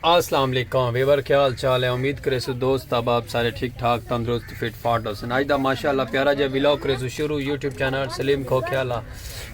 السلام علیکم ویور کیا حال چال ہے امید کرے سو دوست احباب سارے ٹھیک ٹھاک تندرست فٹ فاٹ ہو سن اج دا ماشاءاللہ پیارا جا ویلو کرے سو شروع یوٹیوب چینل سلیم کھو کھیالا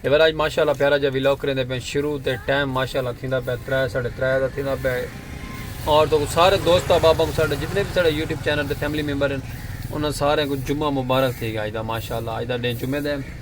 ویور اج ماشاءاللہ پیارا جا ویلو کرے دے پہ شروع تے ٹائم ماشاءاللہ تھیندا پہ 3 3:30 دا تھیندا پہ اور تو سارے دوست احباب کو سارے جتنے بھی سارے یوٹیوب چینل تے فیملی ممبر ہیں انہاں سارے کو جمعہ مبارک تھی گیا اج دا ماشاءاللہ اج دا ڈے جمعہ دے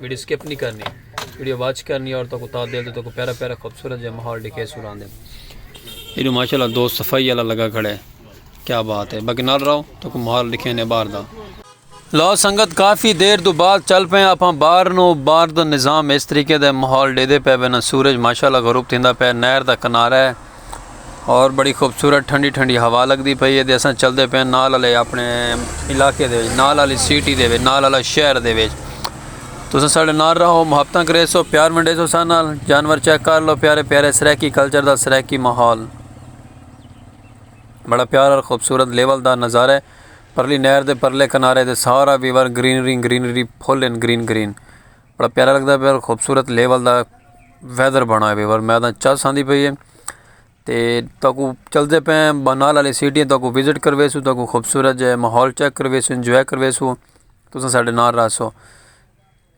ویڈیو سکپ نہیں کرنی ویڈیو واچ کرنی اور تو کو تا دل تو کو پیرا پیرا خوبصورت جے ماحول ڈکے سوران دے ایڈو ماشاءاللہ دوست صفائی والا لگا کھڑے کیا بات ہے باقی نال رہو تو کو ماحول ڈکھے نے باہر دا لو سنگت کافی دیر دو بعد چل پے آپ باہر نو باہر دا نظام اس طریقے دے ماحول ڈے دے پے بنا سورج ماشاءاللہ غروب تھیندا پے نہر دا کنارہ ہے اور بڑی خوبصورت ٹھنڈی ٹھنڈی ہوا لگتی پی ہے اصا چلتے پے نال والے اپنے علاقے دے نال والی سٹی دے نال والا شہر دے تسا سارے نال رہو محبت کرے سو پیار منڈے سو سارے نال جانور چیک کر لو پیارے پیارے سرائیکی کلچر دا سرائیکی ماحول بڑا پیار اور خوبصورت لیول دا نظارہ ہے پرلی نہر دے پرلے کنارے دے سارا ویور گرینری گرینری پھول ان گرین گرین بڑا پیارا لگدا پیا خوبصورت لیول دا ویدر بنا ہوئے اور میں آہداں چس آندی پئی ہے تے تہاکو چلدے پے ہیں بانال والی سٹی تہاکو وزٹ کرویسو تہاکو خوبصورت جے ماحول چیک کرویسو انجوائے کرویسو تساں ساڈے نال رہسو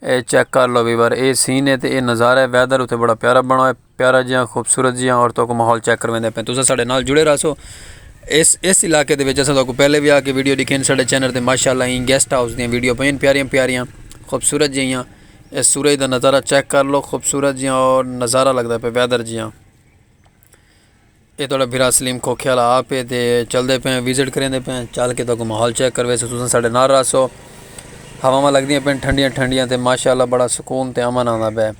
اے چیک کر لو ویور اے سین ہے تے اے نظارہ ہے ویدر اتھے بڑا پیارا بنا ہوئے پیارا جیاں خوبصورت جیاں اور تو کو ماحول چیک کرویندے پہ تسا ساڈے نال جڑے رہسو اس اس علاقے دے وچ اساں تو کو پہلے بھی آ کے ویڈیو ڈکھین ساڈے چینل تے ماشاءاللہ این گیسٹ ہاؤس دی ویڈیو پین پیاریاں پیاریاں خوبصورت جیاں اس سورج دا نظارہ چیک کر لو خوبصورت جیاں اور نظارہ لگدا پہ ویدر جیاں اے تھوڑا بھرا سلیم کھوکھے والا آپ ہے تے چل دے پہ وزٹ کریں دے پہ چل کے تو کو ماحول چیک کروے سو تسا ساڈے نال رہسو ہواواں لگدیاں پین ٹھنڈیاں ٹھنڈیاں تے ماشاءاللہ بڑا سکون تے امن آندا پہ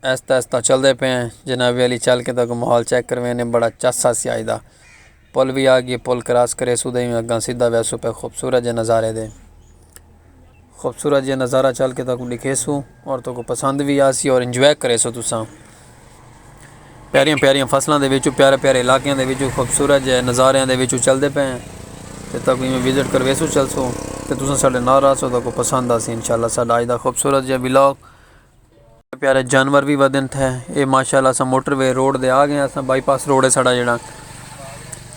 آہستہ آہستہ چلدے پئے ہیں جناب عالی چل کے تاکہ ماحول چیک کرویں نے بڑا چس سا سی آئی دا پل بھی آ گئی پل کراس کرے سو دیں اگاں سیدھا وے سو پہ خوبصورت جے نظارے دے خوبصورت جے نظارہ چل کے تاکہ دکھے سو اور تو کو پسند بھی آ سی اور انجوائے کرے سو تساں پیاریاں پیاریاں فصلوں دے وچوں پیارے پیارے علاقیاں دے وچوں خوبصورت جے نظاریاں دے وچوں چلدے پئے ہیں تے تاکہ میں وزٹ کروے سو چل سو تے تساں ساڈے نال رہ سو تاکہ پسند آ سی انشاءاللہ ساڈا آج دا خوبصورت جے ولاگ پیارے جانور وی ودن تھے اے ماشاءاللہ اساں موٹر وے روڈ دے آ گئے ہیں اساں بائی پاس روڈ ہے ساڑا جڑا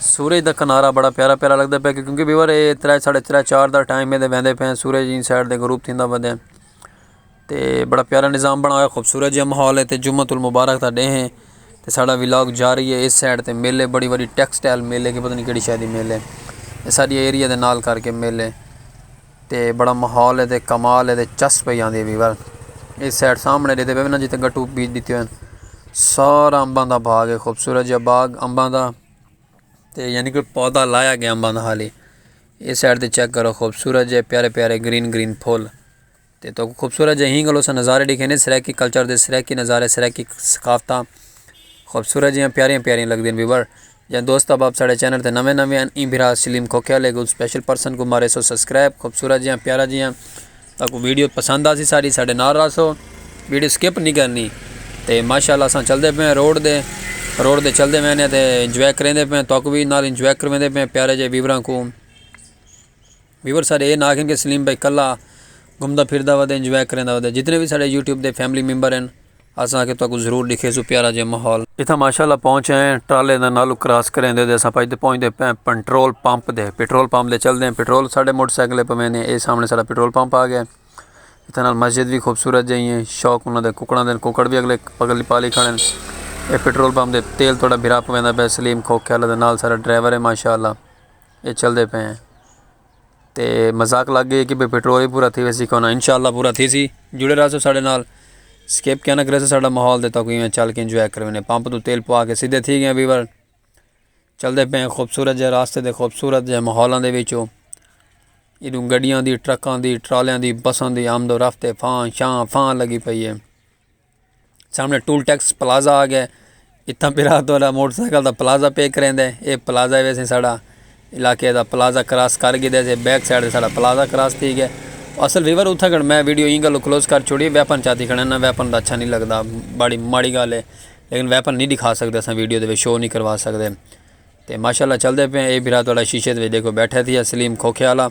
سورج دا کنارہ بڑا پیارا پیارا لگدا پیا کیونکہ ویور اے ترے ساڑھے ترے چار دا ٹائم ہے دے ویندے پے ہیں سورج ایں سائڈ دے غروب تھیندا ودے تے بڑا پیارا نظام بنا ہویا خوبصورت جیہا ماحول ہے تے جمعۃ المبارک دا ڈے ہیں تے ساڑا ولاگ جاری ہے اس سائڈ تے مل ہے بڑی وڈی ٹیکسٹائل مل ہے کہ پتہ نہیں کیڑی شے دی مل ہے ساڈی ایریا دے نال کر کے مل ہے تے بڑا ماحول ہے تے کمال ہے تے چس پئی آندی ہے ویور اے سائڈ سامنے ڈیتے پے نا جتے گٹو بیج ڈتے ہوئے سارا امباں دا باغ ہے خوبصورت جا باغ امباں دا تے یعنی کہ پودا لایا گیا امباں دا حالی اے سائڈ تے چیک کرو خوبصورت جے پیارے پیارے گرین گرین پھول تے تو خوبصورت جے ہینگلو سا نظارے ڈیکھے نے سرائیکی کلچر دے سرائیکی نظارے سرائیکی ثقافتہ خوبصورت جے پیارے پیارے لگ دے ہیں ویور جئے دوست احباب ساڑے چینل تے نویں نویں ہن ایں بھرا سلیم کھوکھے والے کوں سپیشل پرسن کوں مارے سو سبسکرائب خوبصورت جیاں پیارا جیاں تاکو ویڈیو پسند آسی ساری ساڑے نال راسو ویڈیو سکپ نہیں کرنی تے ماشاءاللہ اساں چل دے پے روڈ دے روڈ دے چل دے وینے تے انجوائے کریں دے پے تاکو بھی نال انجوائے کرویں دے پے پیارے جے ویوراں کو ویور سارے اے نہ آکھن کہ سلیم بھائی کلا گھمدا پھردا ودے انجوائے کریندا ودے جتنے وی ساڈے یوٹیوب دے فیملی ممبر ہن اساں آکھے تہاکوں ضرور ڈکھیسوں پیارا جیہا ماحول۔ اتھاں ماشاءاللہ پہنچ آئے ہیں ٹرالے دا نالوں کراس کریندے تے اساں پجدے پہنچدے پئے ہیں پنٹرول پمپ دے پٹرول پمپ دے چلدے ہیں پٹرول ساڈے موٹر سائیکل تے پویندے ہیں اے سامنے ساڈا پٹرول پمپ آ گیا ہے اتھاں نال مسجد وی خوبصورت جیہی ہیں شوق انہاں دے ککڑاں دے ککڑ وی اگلے پگلی پالی کھڑے ہیں اے پٹرول پمپ دے تیل تہاڈا بھرا پویندا پئے سلیم کھوکھے آلا دے نال ساڈا ڈرائیور ہے ماشاءاللہ۔ اے چلدے پے ہیں تے مذاق لگ گئے کہ بے پیٹرول ہی پورا تھی ویسی کہنا انشاءاللہ پورا تھی سی جڑے رہا سو ساڑھے نال سکیپ کہنا کرے سو ساڑھا محول دے تاکہ میں چل کے انجوائے کروینے پمپ تو تیل پوا کے سیدھے تھی گئے ویور چلدے پے ہیں خوبصورت جے راستے دے خوبصورت جے محولان دے ویچو ادھوں گڑیاں دی ٹرکاں دی ٹرالیاں دی بسان دی آمد و رفت فان شان فان لگی پئی ہے سامنے ٹول ٹیکس پلازہ آ گیا اتنا پھرا تو الا موٹر سائیکل دا پلازہ پے کریں دے اے پلازہ وے سے ساڑا علاقے دا پلازہ کراس کر گی دے سے بیک سائیڈ ساڑا پلازہ کراس تھی گیا اصل ویور اتھا گھڑ میں ویڈیو اینگا لو کلوز کر چھوڑی ویپن چاہتی کھڑا نا ویپن دا اچھا نہیں لگ دا بڑی ماڑی گالے لیکن ویپن نہیں دکھا سکتے سن ویڈیو دے وے شو نہیں کروا سکتے تے ماشاءاللہ چلدے پئے اے بھرا تہاڈا شیشے دے وچ ڈیکھو بیٹھا تھیا سلیم کھوکھے والا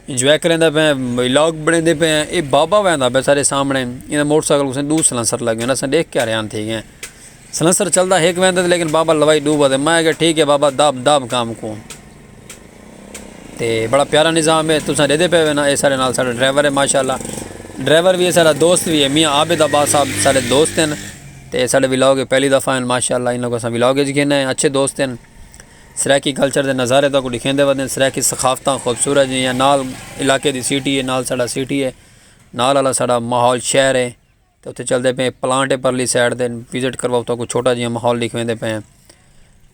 انجوائے کریندا پئے ولاگ بنیندے پئے اے بابا ویندا پئے سارے سامنے انہاں دے موٹر سائیکل کوں دو سلنسر لگے انہاں سن دیکھ کے حیران تھی گئے سلنسر چلدا ہک ویندا تے لیکن بابا لوائی دو ودے میں کہ ٹھیک ہے بابا داب داب کام کو تے بڑا پیارا نظام ہے تساں دے دے پئے وینا اے سارے نال سارے ڈرائیور ہے ماشاءاللہ ڈرائیور بھی ہے سارا دوست بھی ہے میاں عابد عباس صاحب سارے دوست ہیں تے ساڈے ولاگ اچ پہلی دفعہ ہن ماشاءاللہ انہاں کوں اساں ولاگ اچ گھن آئے اچھے دوست ہن سرائیکی کلچر دے نظارے تہاکوں ڈکھیندے ودے ہن سرائیکی ثقافتاں خوبصورت جیہاں نال علاقے دی سٹی ہے نال ساڈا سٹی ہے نال آلا ساڈا ماحول شہر ہے تے اتھے چلدے پئے ہیں پلانٹ ہے پرلی سائیڈ تے وزٹ کرواؤ تہاکوں چھوٹا جیہاں ماحول ڈکھیندے پئے ہیں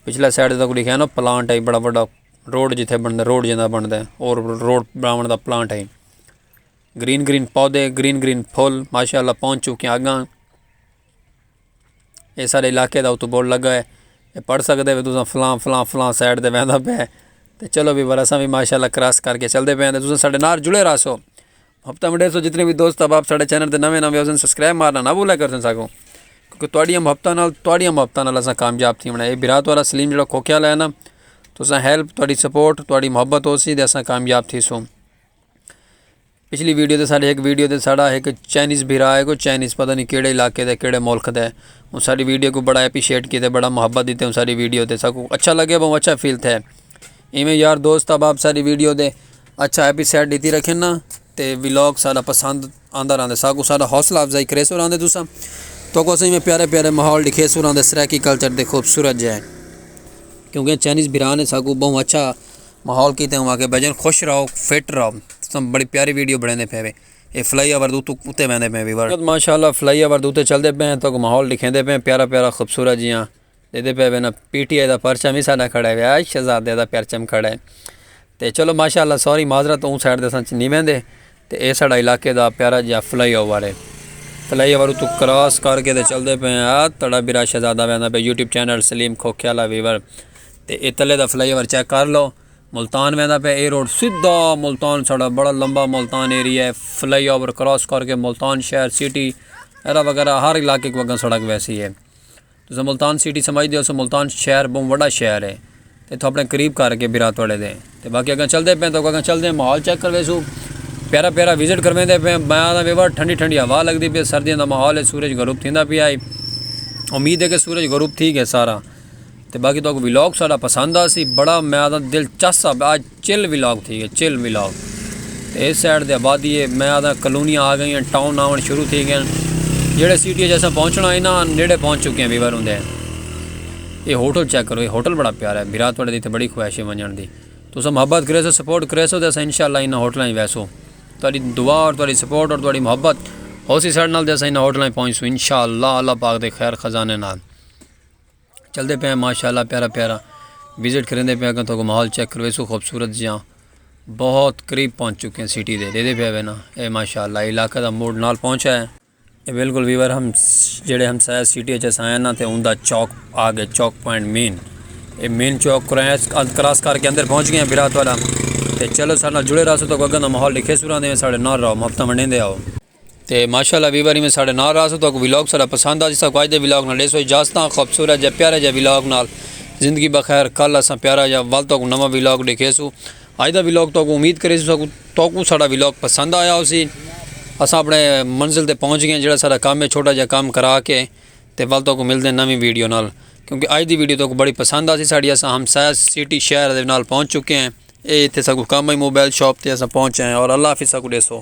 پچھلے سائیڈ تہاکوں ڈکھیا نا پلانٹ ہے بڑا وڈا روڈ جتھے بندا روڈ جیہاں بندا ہے اور روڈ بناون دا پلانٹ ہے۔ گرین گرین پودے گرین گرین پھول ماشاء اللہ پہنچ چکے آگاں یہ سارے علاقے دا اتو بورڈ لگا ہے یہ پڑھ سکتے ہو تساں فلاں فلاں فلاں سائڈ دے ویندہ پہ ہے تو چلو بھی ورساں بھی ماشاء اللہ کراس کر کے چل دے پہ ہیں تساں سارے نار جڑے رہا سو ہفتہ مڈے سو جتنے بھی دوست اب آپ سارے چینل دے نوے نوے ہوزن سبسکرائب مارنا نہ بھولا کر سن ساکو کیونکہ توڑیاں ہفتہ نال توڑیاں ہفتہ نال اساں کامیاب تھی منائے برات والا سلیم جڑا کھوکیا لینا تساں ہیلپ توڑی سپورٹ توڑی محبت ہو سی دے اساں کامیاب تھی سو پچھلی ویڈیو تے ساڈے ایک ویڈیو تے ساڈا ایک چائنیز بھرا ہے کوئی چائنیز پتہ نہیں کیڑے علاقے دے کیڑے ملک دے ان ساڈی ویڈیو کو بڑا اپریشیٹ کیتے بڑا محبت دیتے ان ساڈی ویڈیو تے ساکو اچھا لگے بہت اچھا فیل تھے ایویں یار دوست احباب ساڈی ویڈیو دے اچھا اپریشیٹ دیتی رکھن نا تے ولاگ ساڈا پسند آندا رہندے ساکوں ساڈا حوصلہ افزائی کریسو رہندے تساں توکوں اساں ایویں پیارے پیارے ماحول ڈکھیسوں رہندے سرائیکی کلچر دے خوبصورت جے کیونکہ چائنیز بھرا نے ساکوں بہوں اچھا ماحول کیتے ہوں کہ بھائی جان خوش رہو فٹ رہو تساں بڑی پیاری ویڈیو بنیندے پے وے اے فلائی اوور دو تو کتے ویندے پے وی ماشاءاللہ فلائی اوور دو تے چلدے پے ہیں تو ماحول ڈکھیندے پے پیارا پیارا خوبصورت جیاں دیندے پئے وینا پی ٹی آئی دا پرچم وی ساڈا کھڑے ویا شہزادے دا پرچم کھڑے تے چلو ماشاءاللہ سوری معذرت اوں سائیڈ دے اساں نی ویندے تے اے ساڈا علاقے دا پیارا جیا فلائی اوور ہے فلائی اوور اتو کراس کر کے تے چلدے پئے آ تڑا برا شہزادہ ویندا پئے YouTube channel Saleem Khokhiala viewer تے اے تلے دا فلائی اوور چیک کر لو ملتان ویندا پئے اے روڈ سیدھا ملتان ساڈا بڑا لمبا ملتان ایریا ہے فلائی اوور کراس کر کے ملتان شہر سٹی ایرا وغیرہ ہر علاقے کو اگاں سڑک ویسی ہے تساں ملتان سٹی سمجھ دے ہو سو ملتان شہر بہوں وڈا شہر ہے تے اتھوں اپنے قریب کر کے برا توڑے دے تے باقی اگاں چل دے پیں تو اگاں چل دے ماحول چیک کروے سو پیارا پیارا وزٹ کرویں دے پیں میں آدھا وے بار ٹھنڈی ٹھنڈی ہوا لگ دی پہ سردیاں دا ماحول ہے سورج غروب تھیندا پہ آئی امید ہے کہ سورج غروب تھی گئے سارا تے باقی تو کو ویلوگ سارا پسند آ سی بڑا میں آدھا دل چاہ سا آج چل ولاگ تھی گئے چل ولاگ تے اس سائیڈ دے آبادی ہے میں آدھا کلونیاں آ گئیاں ٹاؤن آون شروع تھی گئے جڑے سٹی جیسا پہنچنا ہے نا نیڑے پہنچ چکے ہیں ویور ہوندے ہیں یہ ہوٹل چیک کرو یہ ہوٹل بڑا پیارا ہے برات بڑے دی تے بڑی خواہش ہے منجن دی تو سا محبت کرے سو سپورٹ کرے سو تے سا انشاءاللہ انہاں ہوٹلاں ہی ویسو تو اڈی دعا اور تو اڈی سپورٹ اور تو اڈی محبت ہو سی سر نال تے سا انہاں ہوٹلاں ہی پہنچ سو انشاءاللہ اللہ پاک دے خیر خزانے نال چلدے پئے ہیں ماشاءاللہ پیارا پیارا وزٹ کریندے پئے ہیں تو ماحول چیک کرو ایسو خوبصورت جیاں بہت قریب پہنچ چکے ہیں سٹی دے دیدے پئے نا اے ماشاءاللہ علاقہ دا موڈ نال پہنچا ہے اے بالکل ویور ہم جڑے ہم سایہ سٹی اچھا سایہ نا تے اون دا چوک آگے چوک پوائنٹ مین اے مین چوک کراس کر کے اندر پہنچ گئے ہیں برات والا تے چلو سارنا جڑے رہا سو تو گگن دا ماحول لکھے سورا دے سارے نار رہو مفتہ منڈین دے آؤ تے ماشاء اللہ ویور ایویں ساڈے نال راہسو تہاکوں ولاگ ساڈا پسند آجسا کو اج دے ولاگ نال ڈیسو اجازتاں خوبصورت جے پیارے جے ولاگ نال زندگی بخیر کل اساں پیارا جا ول تہاکوں نواں ولاگ ڈیکھیسو اج دا ولاگ تہاکوں امید کریسو تہاکوں ساڈا ولاگ پسند آیا ہوسی اساں اپنے منزل تے پہنچ گئے جڑا ساڈا کام ہے چھوٹا جا کام کرا کے تے ول تہاکوں ملدے نویں ویڈیو نال کیونکہ اج دی ویڈیو تہاکوں بڑی پسند آسی ساڈی اساں ہم سایہ سٹی شہر دے نال پہنچ چکے ہیں اے ایتھے ساکوں کام ہے موبائل شاپ تے اساں پہنچ آئے ہیں اور اللہ حافظ ساکوں ڈیسو